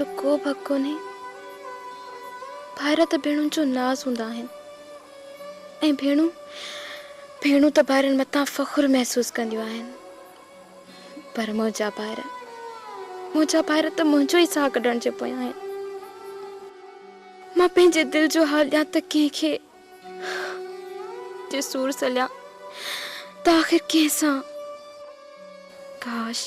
جو ڪوبه حق ڪونهي. ڀائر ته ڀيڻن جو ناز هوندا آهن ۽ ڀيڻون ڀيڻون ته ڀائرن مٿان فخر محسوس ڪنديون آهن پر منهنجا ڀائر منهنجا ڀائر ته منهنجو ئي ساهه ڪڍڻ جي پويان آهن. مان پنهنجي دل جو حال ڏيان ته ڪنهن کي؟ جي سور سليان ته آخر ڪنهن سان؟ ڪاش!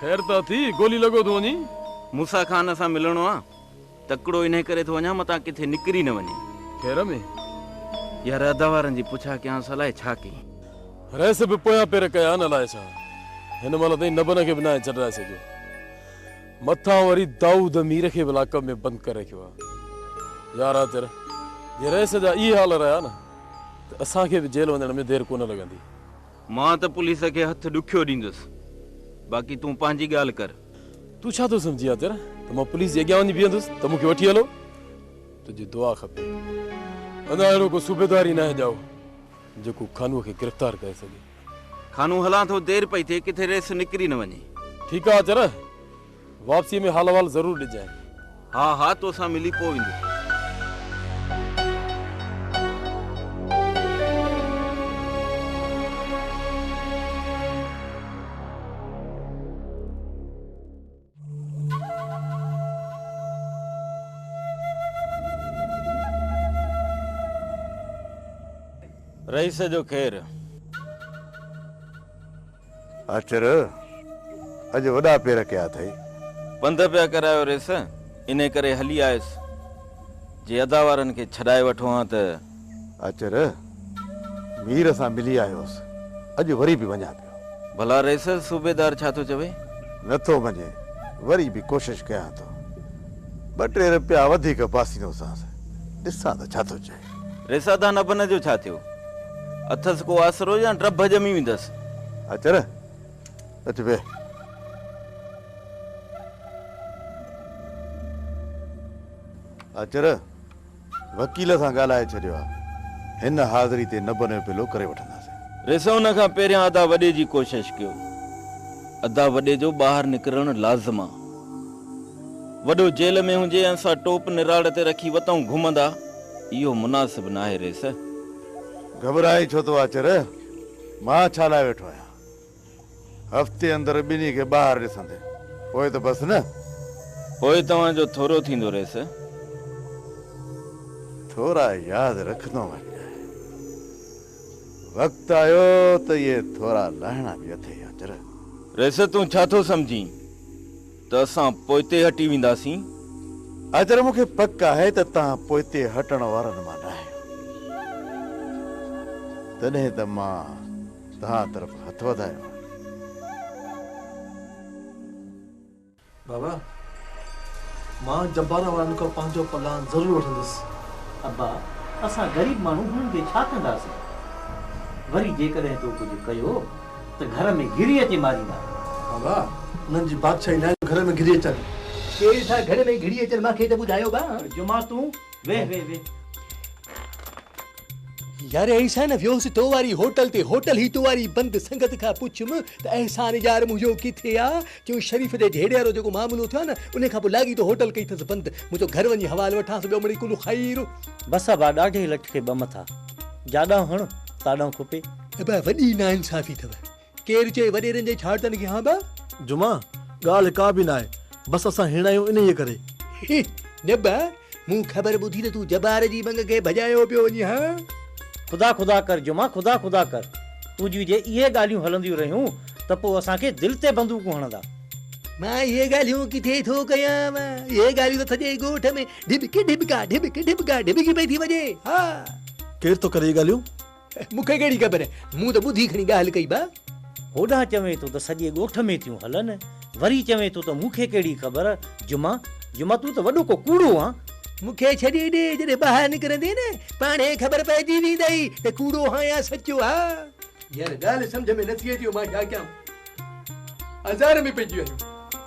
خير ته اٿي، ڳولي لڳو ٿو وڃين؟ موسيٰ خان سان ملڻو آ، تڪڙو انهي ڪري ٿو وڃان متان ڪٿي نڪري نه وڃي. خير ۾؟ يار ادا وارن جي پڇا ڪيانس الائي ڇا ڪيئي. رئيس به پويان پير ڪيا آهن الائي ڇا هن مهل تائين نبن کي به ناهي چڏرائي سگهيو. مٿان وري دائود مير کي به لاڪ اپ ۾ بند ڪري رکيو آهي. يار آچر جي رئيس جا اهي حال رهيا نه ته اسان کي به جيل وڃڻ ۾ دير ڪونه لڳندي. مان ته پوليس کي هٿ ڏکيو ڏيندس، باقي تون پنهنجي ڳالهه ڪر. تون ڇا ٿو سمجهين عطر ته مان پوليس جي اڳيان وڃي بيهندس ته مون کي وٺي هلو. تنهنجي دعا کپي. ادا اهڙو ڪو صوبيدار ئي ناهي ڄائو جيڪو خانوء کي گرفتار ڪري سگهي. خانو هلان ٿو دير پئي ٿئي ڪٿي ريس نڪري نه وڃي. ٺيڪ آ عطر. واپسيء ۾ حال احوال ضرور ڏجانء. ها ها تو سان ملي پوء ايندس. رئيس جو خير. اچر، اڄ وڏا پير ڪيا اٿئي. پنڌ پيا ڪرايو ريس، انهي ڪري هلي آيس. جي ادا وارن کي ڇڏائي وٺون ها ته. اچر، مير سان ملي آيوس، اڄ وري به وڃان پيو. ڀلا ريس، صوبيدار ڇا ٿو چوي؟ نه ٿو مڃي، وري به ڪوشش ڪيان ٿو. ٻه ٽي رپيا وڌيڪ پاسينوسانس، ڏسان ته ڇا ٿو چئي. ريسادان ابن جو ڇا ٿيو؟ اٿس ڪو آسرو يا ٽڀ ڄمي ويندس؟ اچر، اچ ويهه. اچر، وڪيل سان ڳالهائي ڇڏيو آ. هن حاضري تي نبن جو پلو ڪري وٺنداسين. ريسادان کان پهريان ادا وڏي جي ڪوشش ڪيو. ادا وڏي جو ٻاهر نڪرڻ لازم آ. وڏو جيل ۾ هجي ۽ اسان ٽوپ نراڙ تي رکي وتائون گهمندا، اهو مناسب ناهي ريس. گهٻرائين ڇو ٿو آچر؟ مان ڇا لاء ويٺو آهيان؟ هفتي اندر ٻنهي کي ٻاهر ڏسندي پوء ته بس نه. پوء توهان جو ٿورو ٿيندو ريس. ٿورا ياد رکندو وڃ. وقت آيو ته اهي ٿورا لاهڻا به اٿئي آچر. ريس تون ڇا ٿو سمجهين؟ ته اسان پوئتي هٽي وينداسين. حيدر، مون کي پڪ آهي ته توهان پوئتي هٽڻ وارن مان نه آهيو. تڏهن ته مان توهان طرف هٿ وڌايو آهي. بابا، مان جبارا وارن کان پنهنجو پلان ضرور وٺندس. ابا، اسان غريب ماڻهو هنن کي ڇا ڪنداسين. وري جيڪڏهن تو ڪجهه ڪيو. ته گهر ۾ گهري اچي ماريندا. ها ڀاء، انهن جي بادشاهي ناهي جو گهر ۾ گهري اچن. ڪير ٿا گهر ۾ گهري اچن مان کي ته ٻڌايو ڀاء. جمعه تون ويهه ويهه ويهه. يار احسان ويوس تو واري هوٽل تي هوٽل هي تو واري بند سنگت کان پڇيم ته احسان يار منهنجو ڪٿي آ چيون شريف تي جهيڙي وارو جيڪو معاملو ٿيو آ نه انهي کان پوء لاڳيتو هوٽل ڪئي اٿس بند منهنجو گهر وڃي حوال وٺانس ٻيو مڙئي ڪل خير. بس آ ڀاء ڏاڍي لٺ کي ٻه مٿا جاڏانهن هڻ تاڏانهن کوپي. ابا وڏي ناانصافي ٿو. ڪير چئي وڏيرن جي ڇاڙتن کي ها با. جمعا، ڳالهه ڪا به ناهي. بس اسان هيڻا آهيون انهيء ڪري. هي، نه با، مون خبر ٻڌي ته تون جبار جي ٻنگ کي ڀڄايو پيو وڃين ها. خدا خدا ڪر جمعا خدا خدا ڪر. تنهنجيون جي اهي ڳالهيون هلنديون رهيون ته پوء اسان کي دل تي بندوقون هڻندا. مان اهي ڳالهيون ڪٿي ٿو ڪيان. اهي ڳالهيون ته سڄي ڳوٺ ۾ ڍٻڪ ڍٻڪا ڍٻڪ ڍٻڪا ڍٻڪي پئي ٿي وڄي. ها. ڪير ٿو ڪري اهي ڳالهيون؟ مون کي ڪهڙي خبر، مون ته ٻڌي کڻي ڳالهه ڪئي با. هوڏانهن چوين ٿو ته سڄي ڳوٺ ۾ ٿيون هلن، وري چوين ٿو ته مون کي ڪهڙي خبر، جمعا، جمعا تون ته وڏو ڪو ڪوڙو آن. مون کي ڇڏي ڏي، جڏهن ٻاهر نڪرندين نه، پاڻ ئي خبر پئجي ويندئي ته ڪوڙو آهان يا سچو ها. يار ڳالهه سمجهه ۾ نٿي اچي، مان ڇا ڪيان، آزار ۾ پئجي ويو آهيان.